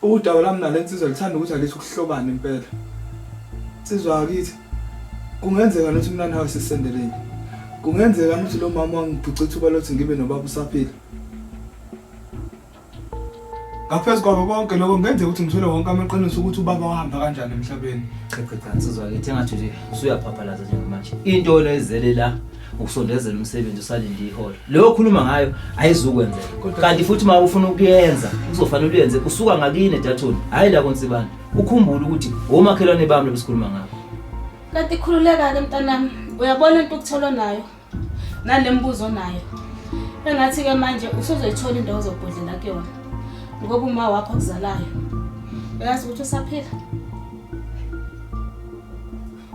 Udaba lami nale nsizwa lithanda ukuthi alithi ukuhlobana impela. Nsizwa akithi kungenzeka nokuthi mina nawe sisendeleni. Kungenzeka nokuthi lo mama wangibhuca ithuba lokuthi ngibe nobaba usaphila. Ngaphezu kwako konke lokho kungenzeka ukuthi ngithole wonke amaqiniso ukuthi ubaba wahamba kanjani emhlabeni. Cha cha cha nsizwa akithi engathi nje usuyaphaphalaza njengamanje. Into lezele la ukusondezela umsebenzi usalinde iholo leyo okhuluma ngayo ayizukwenzeka kanti futhi uma ufuna ukuyenza kuzofanele uyenze usuka ngakini edathoni hhayi la konsibana ukhumbule ukuthi womakhelwane bami lobesikhuluma ngabo kanti khululeka-ke mntanami uyabona into okutholwa nayo nale mbuzo nayo engathi-ke manje usuzoyithola indawo zobhodlela kuyona ngoba uma wakho okuzalayo uyazi ukuthi usaphila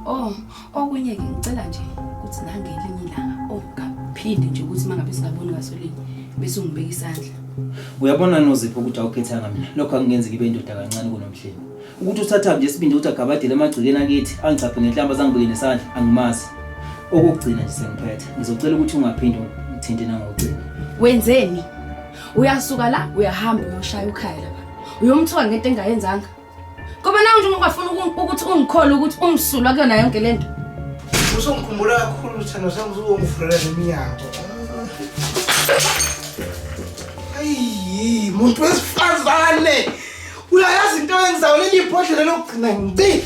oh Okunye-ke ngicela nje ukuthi nangelinye ilanga ongaphinde nje ukuthi uma ngabe singaboni ngasolini bese ungibeka isandla. Uyabona nozipho ukuthi awukhethanga mina lokho angingenzi ngibe indoda kancane kunomhleni. Ukuthi usathambe nje sibinde ukuthi agabadele emagcikeni akithi angichaphe ngenhlamba zangibeke nesandla angimazi. Okokugcina nje sengiphethe ngizocela ukuthi ungaphinde ngithinte nangocingo. Wenzeni? Uyasuka la uyahamba uyoshaya ukhaya lapha. Uyomthola ngento engayenzanga. Ngoba nawe njengoba ufuna uku- ukuthi ungikholwe ukuthi ungisulwa kuyona yonke le nto. Usungikhumbula kakhulu Thando sengizowungivulela neminyango. Ayi, muntu wesifazane. Uyayazi into yenzayo leli bhodlela lokugcina ngci.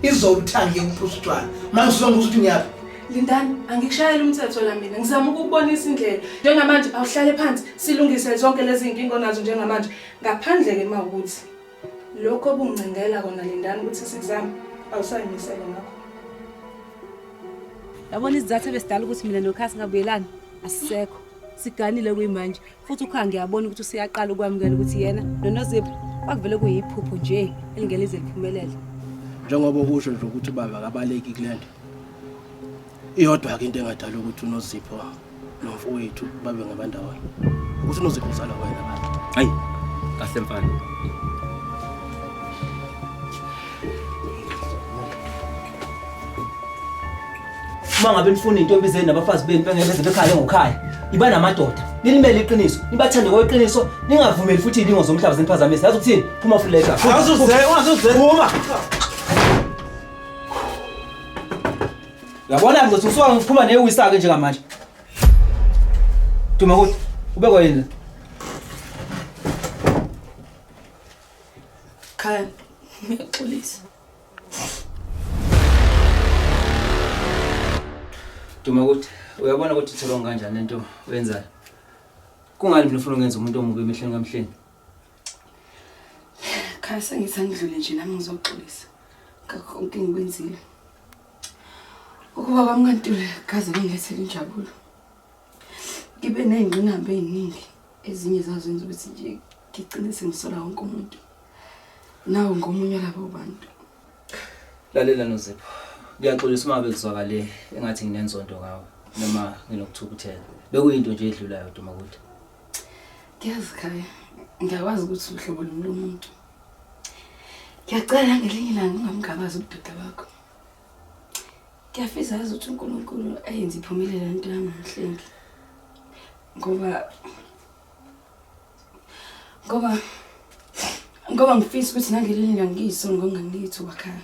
Izolo uthangi ukuphuza utshwala. Manje usonga ukuthi ngiyaphi? Lindani, angikushayeli umthetho la mina. Ngizama ukukubonisa indlela. Njengamanje awuhlale phansi silungise zonke lezi zinkinga onazo njengamanje. Ngaphandle ke mawukuthi Lokho obungicingela kona Lindani ukuthi sikuzama awusayimisele ngakho. Yabona izizathu ebesidala ukuthi mina noKha singabuyelani asisekho. Siganile kuyimanje futhi uKha ngiyabona ukuthi useyaqala ukwamukela ukuthi yena noNozipho bakuvele kuyiphupho nje elingelize liphumelele. Njengoba usho nje ukuthi ubaba akabaleki kulento. iyodwa ke into engadala ukuthi unozipho nomfowethu babe ngabandawana ukuthi unozipho uzala wena baba hayi kahle mfana uma ngabe nifuna intombi zenu nabafazi benu bengeke beze bekhale ngokhaya iba namadoda nilimele iqiniso nibathande kweqiniso ningavumeli futhi ilingo zomhlaba zeniphazamisa yazi ukuthini phuma fuleka Awuzuze, ungazuze. phuma Yabona ngizothi usuka ngiphuma newisake njengamanje. Duma kuthi ube kwayini? Khaya, ngiyaxolisa. Duma ukuthi uyabona ukuthi ithelwa kanjani lento oyenzayo. Kungani mina ufuna ungenza umuntu omubi emehlweni kamhleni? Khaya sengithi angidlule nje nami ngizoxolisa ngakho konke engikwenzile. Ukuba kwami kantule kaze kungilethele injabulo. Ngibe ney'ngqinamba ey'ningi ezinye zazenza ukuthi nje ngigcine sengisola wonke umuntu. Nawo ngomunye labo bantu. Lalela Nozipho. Ngiyaxolisa uma bekuzwakale engathi nginenzondo ngawe noma nginokuthukuthela. Bekuyinto nje edlulayo Dumakude. Ngiyazi khaya ngiyakwazi ukuthi uhlobo lumi lomuntu ngiyacela ngelinye ilanga ungamgabazi ubudoda bakho ngiyafisa yazi ukuthi unkulunkulu ayenze iphumile le nto yangamhlengi ngoba ngoba ngoba ngifisa ukuthi nangelinye ilanga ngiyisongo ngangithi wakhaya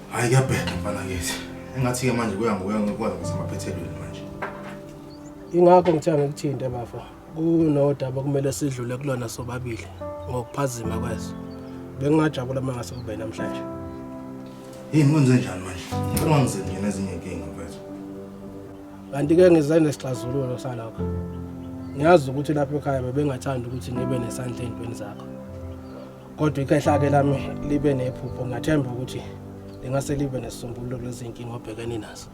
Hayi kuyabheda mfana kithi. Engathi ke manje kuya ngokuya ngokuya ngasemaphethelweni manje. Ingakho ngithe ngikuthinte bafo. Kunodaba kumele sidlule kulona sobabili ngokuphazima kweso. Bengingajabula uma ngase kube namhlanje. Yini kwenze njani manje? Ngicela ngizenzele nezinye inkinga mfethu. Kanti ke ngize nesixazululo salokho. Ngiyazi ukuthi lapha ekhaya bebengathanda ukuthi ngibe nesandla ezintweni zakho. kodwa ikhehla ke lami libe nephupho ngathemba ukuthi lingase libe nesisombululo lezinkinga obhekene nazo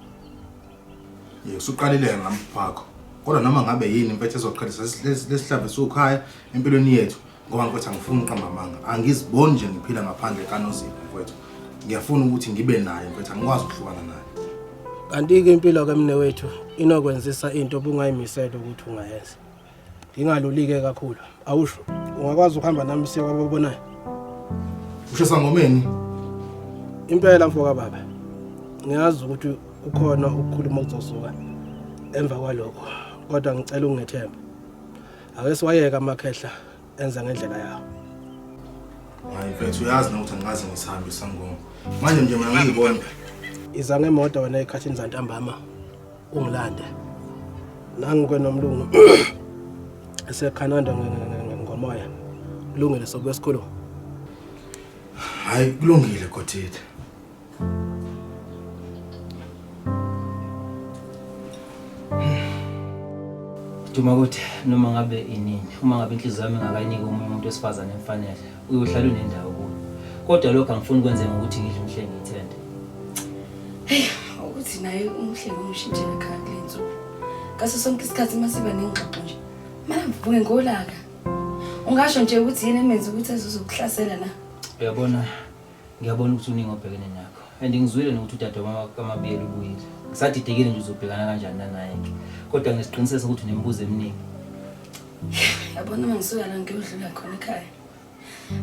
yebo usuqalile ngami phakho kodwa noma ngabe yini impethe ezoqhelisa lesihlave sukhaya empilweni yethu ngoba mfethu angifuni uqamba amanga angiziboni nje ngiphila ngaphandle kanozipho mfethu ngiyafuna ukuthi ngibe naye mfethu angikwazi ukuhlukana naye kanti-ke impilo ke mne wethu inokwenzisa into obungayimisele ukuthi ungayenza ngingalulike kakhulu awusho ungakwazi ukuhamba nami siye kwababonayo usho sangomeni impela mfo kababa ngiyazi ukuthi ukhona ukukhuluma okuzosuka emva kwalokho kodwa ngicela ungethembe ake siwayeke amakhehla enza ngendlela yawo hayi mfethu uyazi nokuthi angikaze ngisihambe isangoma manje nje mina ngiyibona iza ngemoto wena ekhathini zantambama ungilande nangikwe nomlungu esekhananda ngomoya kulungile sokuya esikolweni hayi kulungile gothithi Duma ukuthi noma ngabe inini uma ngabe inhliziyo yami ingakayiniki omunye umuntu wesifazane emfanele uyohlala unendawo kuyo kodwa lokho angifuni ukwenze ngokuthi ngidle umhle ngiyithende heyi ukuthi naye umhle ngomshintshe ekhaya kule nsuku ngaso sonke isikhathi uma siba nengxoxo nje mara mvuke ngolaka ungasho nje ukuthi yini emenza ukuthi azozokuhlasela na uyabona Ngiyabona ukuthi uningi obhekene nakho and ngizwile nokuthi udade wamakamabiyela ubuyile ngisadidekile nje uzobhekana kanjani nanaye-ke kodwa ngesiqiniseko sokuthi unemibuzo eminingi yabona uma ngisuka la ngiyodlula khona ekhaya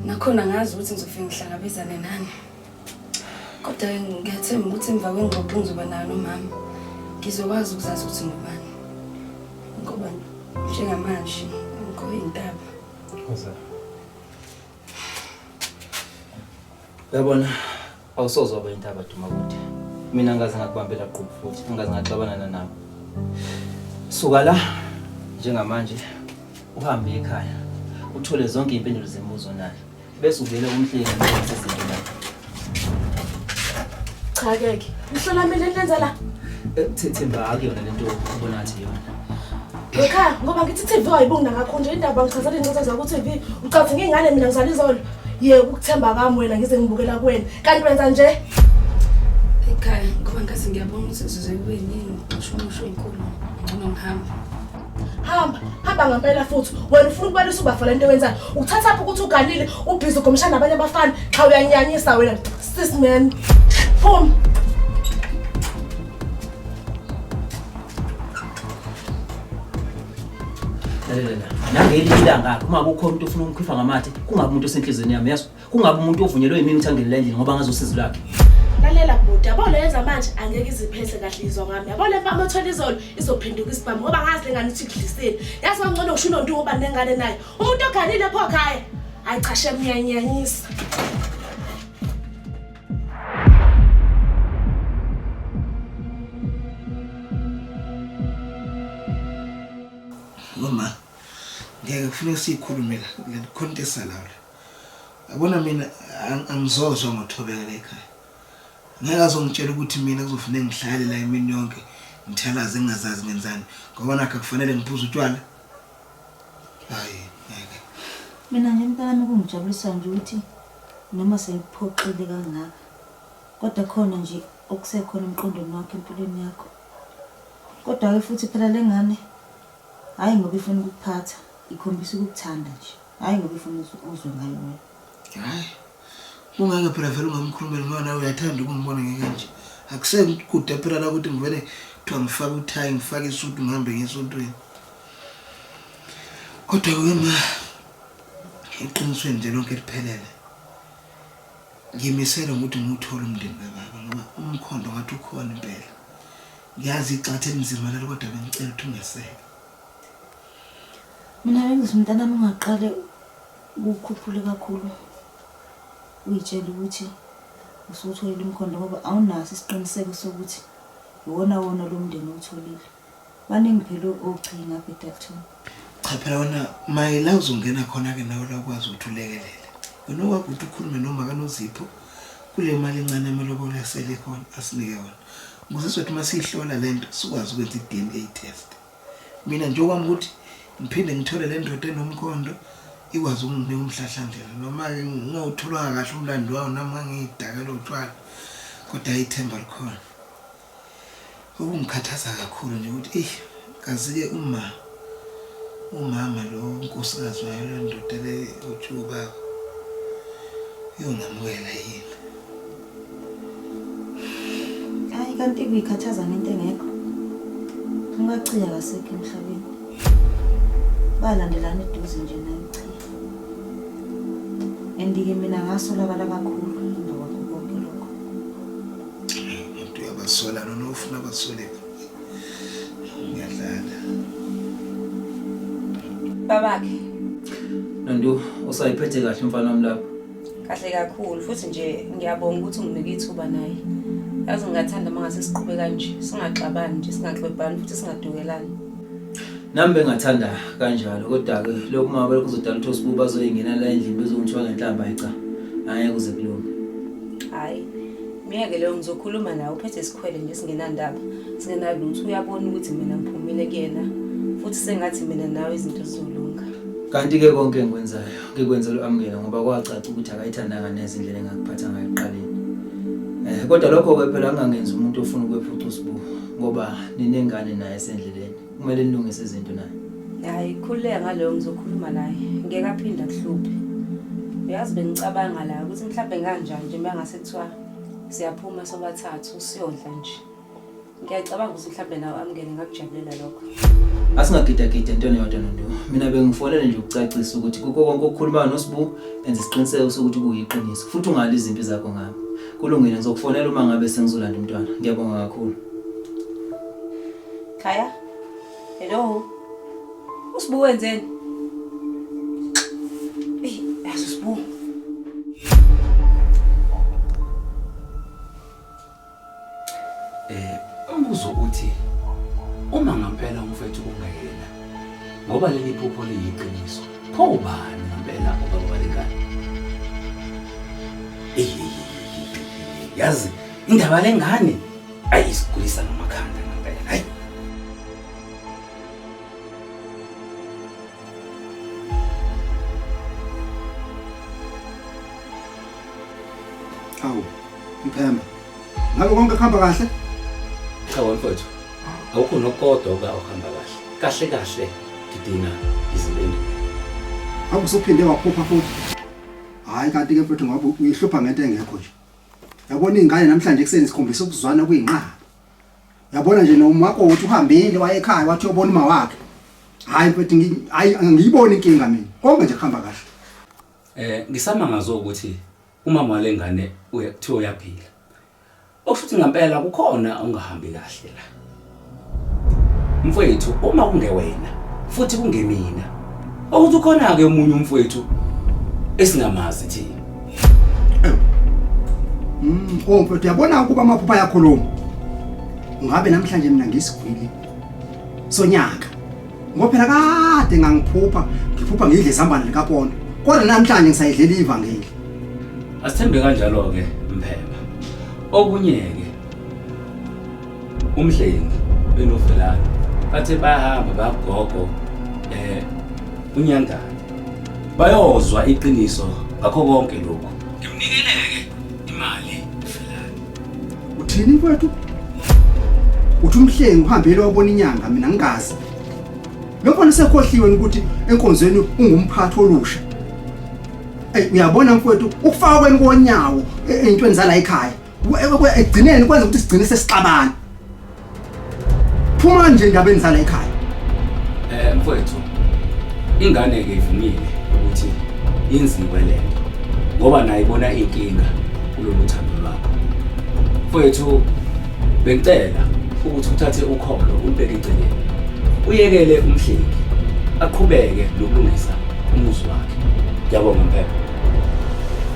nakhona ngazi ukuthi ngizofike ngihlangabezane nani kodwa ngiyathemba ukuthi emva kwengxoxo ngizoba nayo nomama ngizokwazi ukuzazi ukuthi ngubani ngoba njengamanje ngikho intaba Yabona awusoze waba intaba duma kude. Mina ngaze ngakubambela qhubu futhi ngaze ngaxabana nanawe. Suka la njengamanje uhambe ekhaya uthole zonke impendulo zemibuzo nayo bese uvele umhleli ngezinto Cha keke. Mhlola mina lenza la. Ekuthethemba eh, akuyona lento ubona ngathi yona. Lokha ngoba ngithi TV ayibonga ngakho nje indaba ngichazela inqoza zakho TV ucathi ngingane mina ngizala izolo. Yeke ukuthemba kwami wena ngize ngibukela kuwena. Kanti wenza nje. Ekhaya ngoba ngathi ngiyabona ukuthi sizwe kuyini ngisho umusho inkulu. Ngcono ngihambe. hamba hamba ngampela futhi wena ufuna ukubalisa ubafo le nto wenzayo ukuthatha phi ukuthi uganile ubhizi ugomshana nabanye abafana qha uyanyanyisa wena sis man phuma nangelinye ilanga uma kukhona umuntu ofuna ukumkhipha ngamathe kungabi umuntu osenhliziyweni yami yazi kungabe umuntu ovunyelwe yimini ukuthi angenele endlini ngoba ngazi usizi lakhe lalela bhuti yabo le yenza manje angeke iziphethe kahle izwa ngami yabo le mpama othola izolo izophenduka isibhamu ngoba ngazi lengane ukuthi kudlisile yazi kwangcono kusho unontu ngoba nengane naye umuntu oganile pho khaya hayi cha shem ngiyanyanyisa mama ngeke kufuneka siyikhulume la ngikhontesa lawo Yabona mina angizozwa ngothobeka la ekhaya. Ngeke azongitshela ukuthi mina kuzofanele ngihlale la imini yonke ngithalaze ngingazazi ngenzani ngoba nakho kufanele ngiphuze utshwala. Hayi, ngeke. Mina nje mntanami kungijabulisa nje ukuthi noma sengiphoxile kangaka kodwa khona nje okusekhona emqondweni wakho empilweni yakho. Kodwa-ke futhi phela le ngane hhayi ngoba ifuna ukukuphatha ikhombisa ukukuthanda nje. Hayi ngoba ufuna uzwe ngayo wena. Hayi. Ungeke phela vele ungamkhulumeli ngoba nawe uyathanda ukumbona ngekanje. Akusekude phela la ukuthi ngivele kuthiwa ngifake uthayi ngifake isudu ngihambe ngesontweni. Kodwa ke ma eqinisweni nje lonke liphelele. Ngimisela ukuthi ngiwuthole umndeni kababa ngoba umkhondo ngathi ukhona impela. Ngiyazi igxathe elinzima lelo kodwa bengicela ukuthi ungeseke. Mina bengithi mntanami ungaqale ukukhuphule kakhulu uyitshele ukuthi usuwutholile umkhondo ngoba awunaso isiqiniseko sokuthi iwona wona lo mndeni owutholile baningi phela ogcini ngapha edalton cha phela wena mayela uzongena khona-ke nawe la ukwazi ukuthi ulekelele wena okwakho ukuthi ukhulume noma kanozipho kule mali encane amalobolo asele khona asinike wona ukuze sizothi uma siyihlola le nto sikwazi ukwenza i-d n a test Mina nje okwami ukuthi ngiphinde ngithole le ndoda enomkhondo ikwazi ukunginika umhlahlandlela noma-ke ngingawutholanga kahle umlando wawo nami ngangiyidakela utshwala kodwa ithemba likhona okungikhathaza kakhulu nje ukuthi eyi kazi-ke uma umama lo nkosikazi wayo le ndoda le utshuba yongamukela yini Hayi kanti kuyikhathaza ngento engekho. Umachiya akasekho emhlabeni. Balandelana eduze nje naye uchiya. Andike mina ngasolakala kakhulu emva kwakho konke lokho. Umuntu uyabasola nona ufuna abasoleke. Ngiyadlala. Babakhe. Nandu usayiphethe kahle mfana wami lapho. kahle kakhulu futhi nje ngiyabonga ukuthi unginike ithuba naye yazi ngingathanda uma ngase siqhube kanje singaxabani nje singaxwebhani futhi singadukelani nami bengathanda kanjalo kodwa-ke lokhu uma belokhu uzodala ukuthi osibuba azoyingena la endlini bezongithiwa ngenhlamba ayica angeke kuze kulunge hhayi myeke leyo ngizokhuluma nawe uphethe isikhwele nje singenandaba singenalutho uyabona ukuthi mina ngiphumile kuyena futhi sengathi mina nawe izinto zizolunga kanti-ke konke engikwenzayo ngikwenza lo amukela ngoba kwacaca ukuthi akayithandanga neze indlela engakuphatha ngayo ekuqaleni eh kodwa lokho ke phela angangenzi umuntu ofuna ukwephuca usibu ngoba ninengane naye sendleleni kumele nilungise izinto naye hayi khululeka ngaleyo ngizokhuluma naye ngeke aphinde akuhluphe uyazi bengicabanga la ukuthi mhlawumbe kanjani nje uma ngase kuthiwa siyaphuma sobathathu siyodla nje ngiyacabanga ukuthi mhlawumbe nawe amngene ngakujabulela lokho asingagidagidi entweni yodwa nonto mina bengifonele nje ukucacisa ukuthi kukho konke okukhulumayo nosibu enza isiqiniseko sokuthi kuyiqiniso futhi ungali izimpi zakho ngami kulungile ngizokufonela uma ngabe sengizolanda umntwana ngiyabonga kakhulu khaya hello usibu wenzeni Eh umbuzo uthi uma ngempela umfethu kungayena ngoba leli phupho liyiqiniso pho ubani ngempela ubaba walengane yazi indaba lengane ayi isigulisa ngamakhanda ngempela hayi awu Mphemba, ngabe konke kuhamba kahle? Cha wamfowethu, awukho nokodwa oba uhamba kahle. Kahle kahle ngidinga izimpendulo. Ngabe usuphinde waphupha futhi? Hayi kanti ke mfowethu ngoba uyihlupha ngento engekho nje. Yabona izingane namhlanje ekuseni sikhombisa ukuzwana kuyinqaba. Yabona nje noma wakho uthi uhambile waye ekhaya wathi uyobona uma wakhe. Hayi mfowethu ngi- hayi angiyiboni inkinga mina. Konke nje kuhamba kahle. Eh ngisamangazwe ukuthi Umama walengane uya kuthiwa uyaphila. Okushuthi ngampela kukhona ongahambi kahle la. Mfowethu uma kungewena futhi kungemina. Okuthi ukhona ke umunye umfowethu esingamazi thina. Mm, oh mfowethu yabona ukuba amaphupha yakhuluma. Ngabe namhlanje mina ngisigwili sonyaka. ngoba phela kade ngangiphupha ngiphupha ngidle izambane likapondo kodwa namhlanje ngisayidlela ivangeli asithembe kanjalo-ke mphemba okunye-ke umhlengi benovelana bathe bayahamba bagogo eh unyangane bayozwa iqiniso ngakho konke lokhu ngimnikeleke imali Uthini kwethu? Uthi umhlengi uhambele wabona inyanga mina ngingazi. Lo mfana sekhohliwe ukuthi enkonzweni ungumphathi olusha. Ey uyabona mfowethu ukufaka kweni konyawo e- eyintweni zala ekhaya. Ekugcineni kwenza ukuthi sigcine sesixabana. phuma nje endabeni zala ekhaya eh mfowethu ingane ke ivumile ukuthi inziwe lento ngoba naye ibona inkinga kulolu thando lwakho mfowethu bengicela ukuthi uthathe ukholo umbeke eceleni uyekele umhleki aqhubeke nokulungisa umuzi wakhe ngiyabonga mphepha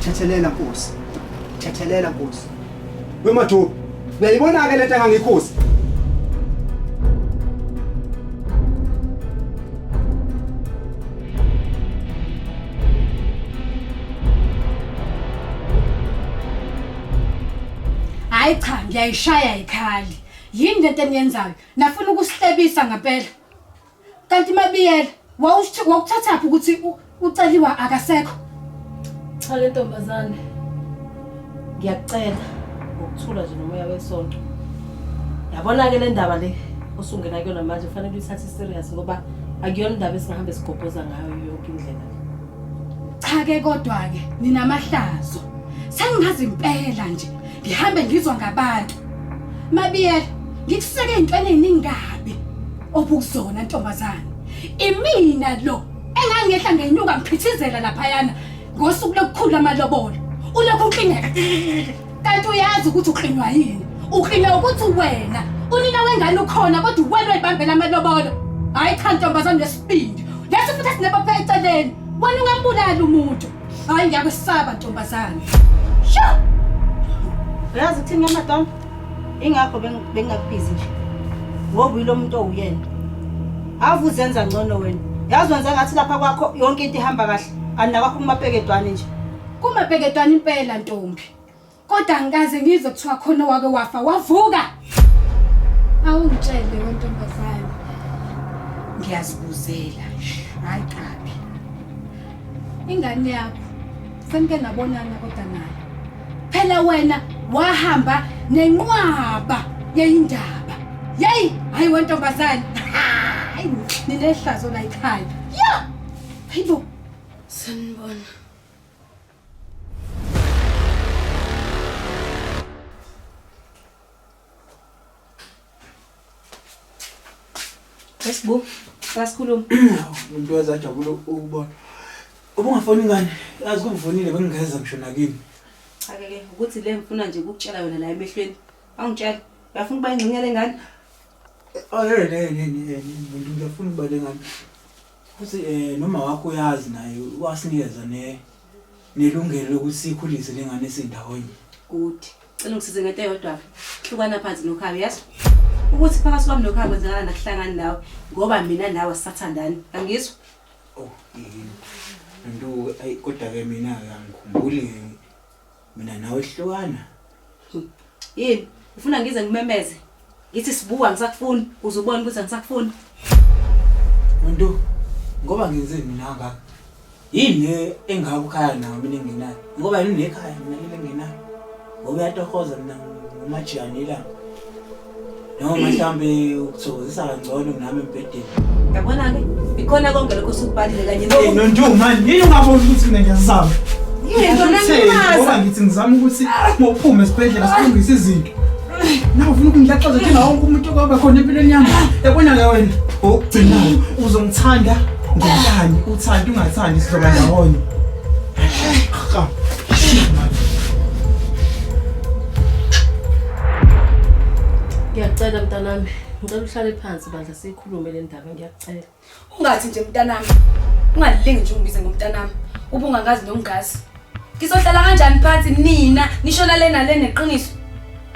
thethelela nkosi thethelela nkosi Wemathuba. Uyayibona ke lento engangikhuza. Hayi cha ngiyayishaya ikhali. Yini lento eniyenzayo? Nafuna ukusihlebisa ngempela. Kanti mabiyela wawuthi- wawuthathaphi ukuthi u- uceliwa akasekho Cha le ntombazane. Ngiyakucela ngokuthula nje nomoya wesonto. Yabona ke le ndaba le osungena kuyona manje kufanele uyithathe serious ngoba akuyona indaba esingahamba sigobhoza ngayo yonke indlela. cha ke kodwa-ke ninamahlazo sengingazi impela nje ngihambe ngizwa ngabantu mabiyela ngikuseke ey'ntweni ey'ningi kabi Obukuzona ntombazane. Imina lo engangehla ngenyuka ngiphithizela laphayana ngosuku lokukhula amalobolo. Ulokhu uklingeka. Kanti uyazi ukuthi uklinywa yini? Uklinywa ukuthi wena unina wengane ukhona kodwa uwena oyibambela amalobolo. Hayi cha ntombazane lesibindi. Lesi futhi sinebapha eceleni. Wena ungambulali umuntu. Hayi ngiyakwesaba ntombazane. Sho! Uyazi ukuthini ke madam? ingakho bengingakubizi nje ngoba uyilo muntu owuyena ave uzenza ngcono wena yazi wenza ngathi lapha kwakho yonke into ihamba kahle andinakwakho kumapeketwane nje kumapeketwane impela ntombi kodwa ngikaze ngizwe kuthiwa khona owake wafa wavuka awungitshele wentombazane ngiyazibuzela hayi kabi ingane yakho senike nabonana kodwa nayo Phela wena wahamba nenqwaba yeyindaba. Yey, hayi wentombazane. Hayi, ninehlazo la ekhaya. Yeah! Hayibo. Sanibona. Esibu, sasikhuluma. Umuntu wezajabula ukubona. Ubungafoni ngani? Yazi kuvunile bengingeza ngisho nakini. Cha ke ke ukuthi le ngifuna nje ukukutshela yona la emehlweni. Awungitshela. Uyafuna ukuba ingxenye lengane? Oh hey hey hey hey umuntu ngiyafuna ukuba lengane. Futhi eh noma wakho uyazi naye wasinikeza ne nelungelo lokuthi sikhulise lengane sindawonye. Good. Cela ungisize ngento eyodwa. Hlukana phansi nokhayo yazi. Ukuthi phakathi kwami nokhayo kwenzakala nakuhlangani nawe ngoba mina nawe sisathandani. Angizwa? Oh, yini. Nto ayi kodwa ke mina ke angikhumbuli mina nawe hlukana. Yini? Ufuna ngize ngimemeze? Ngithi sibuka angisakufuni uze ubone ukuthi angisakufuni. Nto ngoba ngenze mina ngaka. Yini le engaka ukhaya nawo mina engenayo. Ngoba yini le ekhaya mina le engenayo. Ngoba uyatohoza mina ngomajiyane ilanga. Noma mhlawumbe ukuthokozisa kangcono nami Yabona-ke, ikhona konke lokho sikubalile kanye Hey, Nontu, man, yini ungaboni ukuthi mina ngiyazama? Yini, Ngoba ngimaza. ngithi ngizama ukuthi ngophume esibhedlela silungise izinto. Nawe ufuna ukungilaxaza thina wonke umuntu okwaba khona empilweni yami. Yabona-ke wena, okugcinayo uzongithanda ngenkani, uthande ungathandi sizoba ndawonye. Cha, shit, man. Ngiyacela mntanami, ngicela uhlale phansi. Bandla siyikhulume le ndaba ngiyakucela. Ungathi nje mntanami. Ungalilingi nje ungibize ngomntanami. Ubungangazi nomngazi. Ngizohlala kanjani phansi nina nishona lena le neqiniso?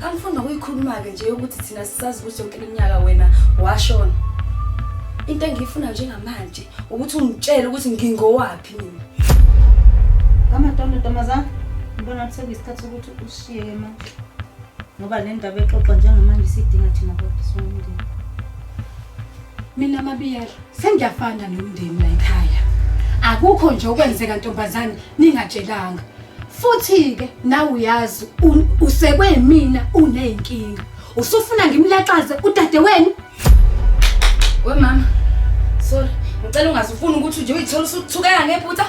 Angifunda kuyikhuluma ke nje ukuthi thina sisazi ukuthi yonke iminyaka wena washona. Into engiyifuna njengamanje ukuthi ungitshele ukuthi ngingowaphi mina. Kama ntombazana, ngibona ukuthi sekuyisikhathi sokuthi ushiye ke manje. ngoba le ndaba exoxwa njengamanje isidinga thina kodwa somndeni mina mabiyela sengiyafana nomndeni la ekhaya akukho nje okwenzeka ntombazane ningatshelanga futhi-ke nawe uyazi usekwe mina uney'nkinga usufuna ngimlaxaze udade wenu we mama sorry ngicela ungazifuni ukuthi nje uyithola usuthukeka ngephutha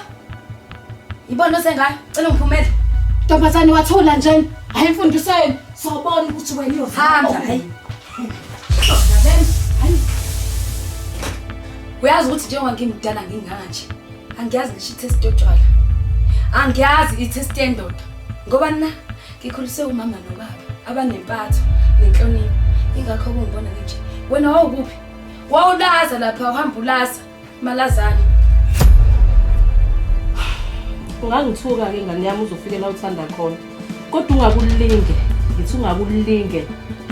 Yibona osengayo, cela ungiphumele. Ntombazane wathula njena. Hayi mfundisi wenu, sobona ukuthi wena uyohamba. Hayi. Hayi. Uyazi ukuthi njengoba ngimdala ngingaka nje. Angiyazi ngisho i-test yotshwala. Angiyazi i-test yendoda. Ngoba na ngikhuliswe umama nobaba abanempatho nenhlonipho. Ingakho kungibona nje. Wena wawukuphi? Wawulaza lapha uhamba ulaza. Malazana. Ungangithuka ke ngane yami uzofike la uthanda khona. Kodwa ungakulinge, ngithi ungakulinge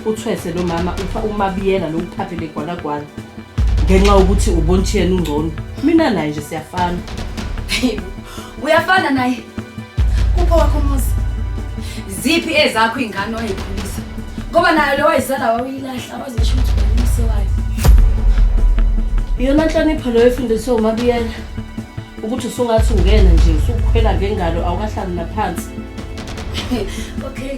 uthwese lo mama ufa umabiyela lo uphaphe legwalagwala. Ngenxa ukuthi ubonthi yena ungcono. Mina naye nje siyafana. Uyafana naye. Kupho wakho umuzi. Ziphi ezakho ingane oyikhulisa? Ngoba nayo lo wayizala wawuyilahla waze usho ukuthi umse wayo. Iyona nhlonipho leyo efundiswe uMabiyela ukuthi usungathi ungena nje usukhwela ngengalo awukahlali naphansi. Okay.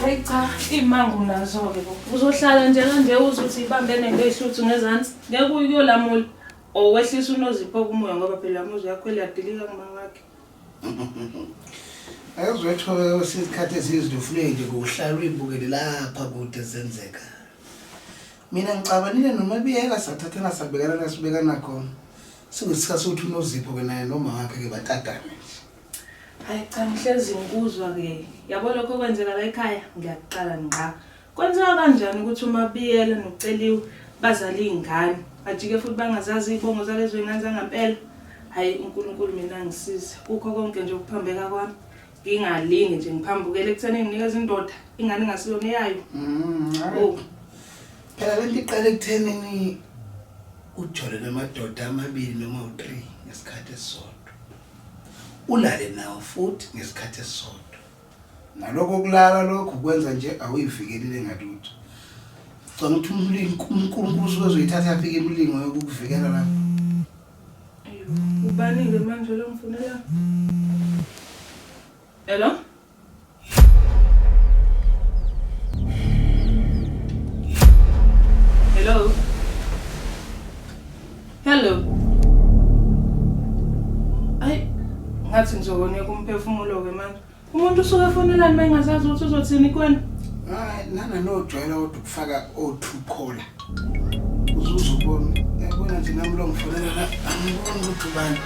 Hayi cha, imangu nazo-ke bo. Uzohlala nje kanje uze uthi ibambe nento ehluthu ngezansi. Ngeke uyolamula. Or wehlisa unozipho kumoya ngoba phela umuzi yakho eliyadilika kumama wakhe. Ayizwetho sizikhathi ezizindufuleki kuhlalwa uyibukele lapha kude zenzeka. mina ngicabanile nomabiyela sathathana sabekana la sibekana khona singesikhathi ukuthi unozipho ke naye noma wakhe ke batatane hayi cha ngihlezi ngikuzwa ke yabo lokho kwenzeka la ekhaya ngiyakuqala ngqa kwenzeka kanjani ukuthi umabiyela noceliwe bazala iy'ngane bajike futhi bangazazi iy'bongo zalezo y'ngane zangampela hhayi unkulunkulu mina ngisize kukho konke nje ukuphambeka kwami ngingalingi nje ngiphambukele ekutheni nginikeza indoda ingane ingasiyona eyayo mm, oh. phela le nto iqale ekuthenini ujole namadoda amabili noma u-three ngesikhathi esisodwa ulale nawo futhi ngesikhathi esisodwa nalokho kulala lokho kwenza nje awuyivikelile ngalutho canga ukuthi unkulunkulu usuke uzoyithatha yaphi ke imilingo yokukuvikela lapho Ubani ke manje lo mfunela? Hello? Hello? Hello? Ay, ngathi ngizokona kumphefumulo ke manje. Umuntu usuke efonela nima engazazi ukuthi uzothini kwena. Hayi nana nojwayela kodwa ukufaka o2 caller. Uzuza ubona. Yabona nje nami lo ngifonela la angiboni ukuthi ubani.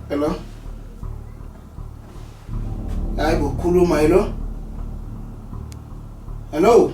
Hello. Hayi bokhuluma hello. Hello.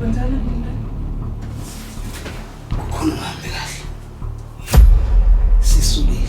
Wenzani mina? Kukhona uhambe kahle. Sisukile.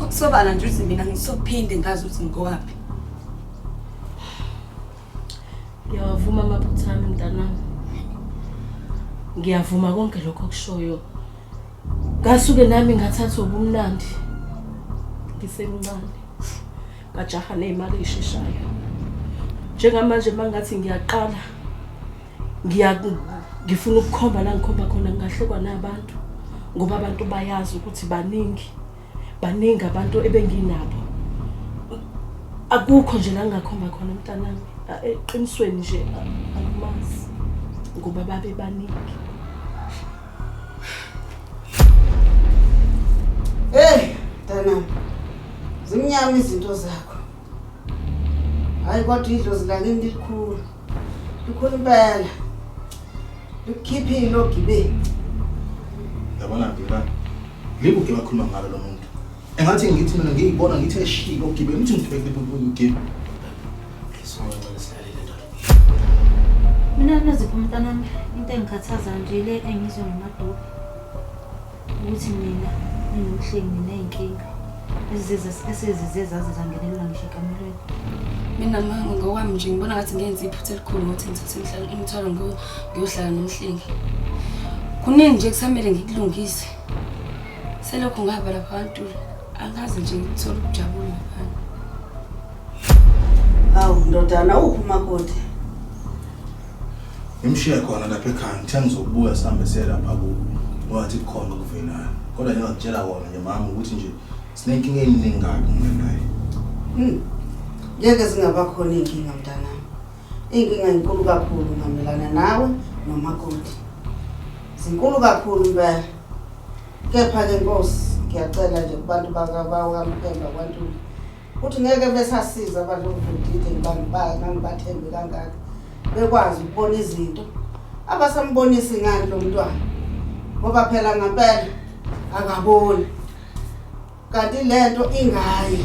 Ukusobala nje ukuthi mina ngisophinde ngazi ukuthi ngikowaphi. Ngiyawavuma amaphutha ami mntanami. Ngiyavuma konke lokho okushoyo. Ngasuke nami ngathatha ubumnandi. Ngisemncane. Ngajaha nezimali ezisheshayo. Njengamanje mangathi ngiyaqala ngiya ngifuna ukukhomba la ngikhomba khona ngahlekwa nabantu ngoba abantu bayazi ukuthi baningi baningi abantu ebenginabo akukho nje la ngingakhomba khona mntanami eqinisweni nje akumazi ngoba babe baningi Hey, mntanami. Zimnyama izinto zakho. Hayi kodwa idlozi lakini likhulu. Lukhulu impela. Likhiphile ogibeni. Yabona ngibona. Libu ke bakhuluma ngalo lo muntu. Engathi ngithi mina ngiyibona ngithi eshilo ogibeni ngithi ngibheke libu ngigibeni. Mina naziphi umntanami into engikhathaza nje le engizwe ngemadophi. Ukuthi mina nginomhlengi nginey'nkinga esezize zaze zangenelwa ngisho ekamelweni. Mina mama ngokwami nje ngibona ngathi ngenze iphutha elikhulu ngokuthi ngithathe imithwalo ngiyohlala nomhlengi. Kuningi nje kusamele ngikulungise. Selokhu ngaba lapha kantula angazi nje ngithola ukujabula ngaphandle. Awu ndodana uphi umakoti? Ngimshiye khona lapha ekhaya ngithe ngizokubuya sihambe siye lapha kubo ngoba ngathi kukhona okuvelayo. Kodwa nje ngakutshela kona nje mama ukuthi nje sinenkinga eningi kabi mina naye. Hmm. Ngeke zingaba khona iy'nkinga mntanami. Iy'nkinga zinkulu kakhulu ngamelana nawe nomakoti. Zinkulu kakhulu impela. Kepha-ke Nkosi ngiyacela nje kubantu bakabawo kaMphemba kwaNtuli Uthi ngeke besasiza abantu bokudide ngibangibaya ngangibathembe kangaka bekwazi ukubona izinto abasambonisi ngani lo mntwana ngoba phela ngempela akaboni kanti le nto ingayi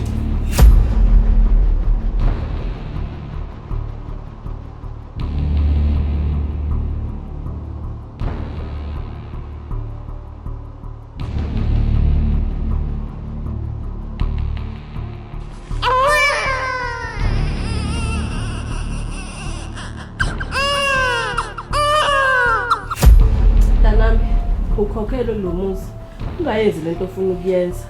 mntanami ukhokhele kulo muzi ungayenzi lento ofuna ukuyenza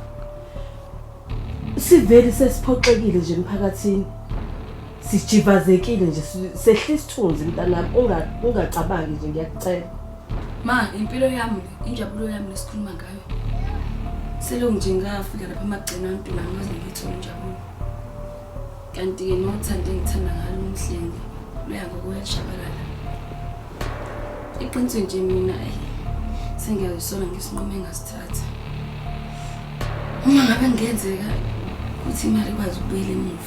siveli sesiphoxekile nje emphakathini sijivazekile nje si- sehla isithunzi mntanami unga- ungacabangi nje ngiyakucela ma impilo yami Injabulo yami lesikhuluma ngayo. Selo nje ngafika lapha amagcina antu nami waze ngithe injabulo. Kanti ke nothanda engithanda ngalo umhlengi luya ngokuyajabalala. Iqiniso nje mina ayi sengiyazisola ngesinqumo engasithatha. Uma ngabe kungenzeka ukuthi imali ikwazi ukubuyela emuva.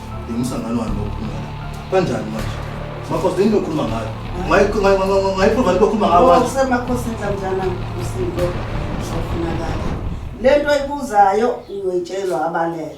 Umsangano wani bokhuluma la? Kanjani manje? Makhosi yini lokhuluma ngayo? Ngayiprova into okhuluma ngayo manje. Usemakhosini kanjana usinto uzofunakala. Lento ayibuzayo uyoyitshelwa abalele.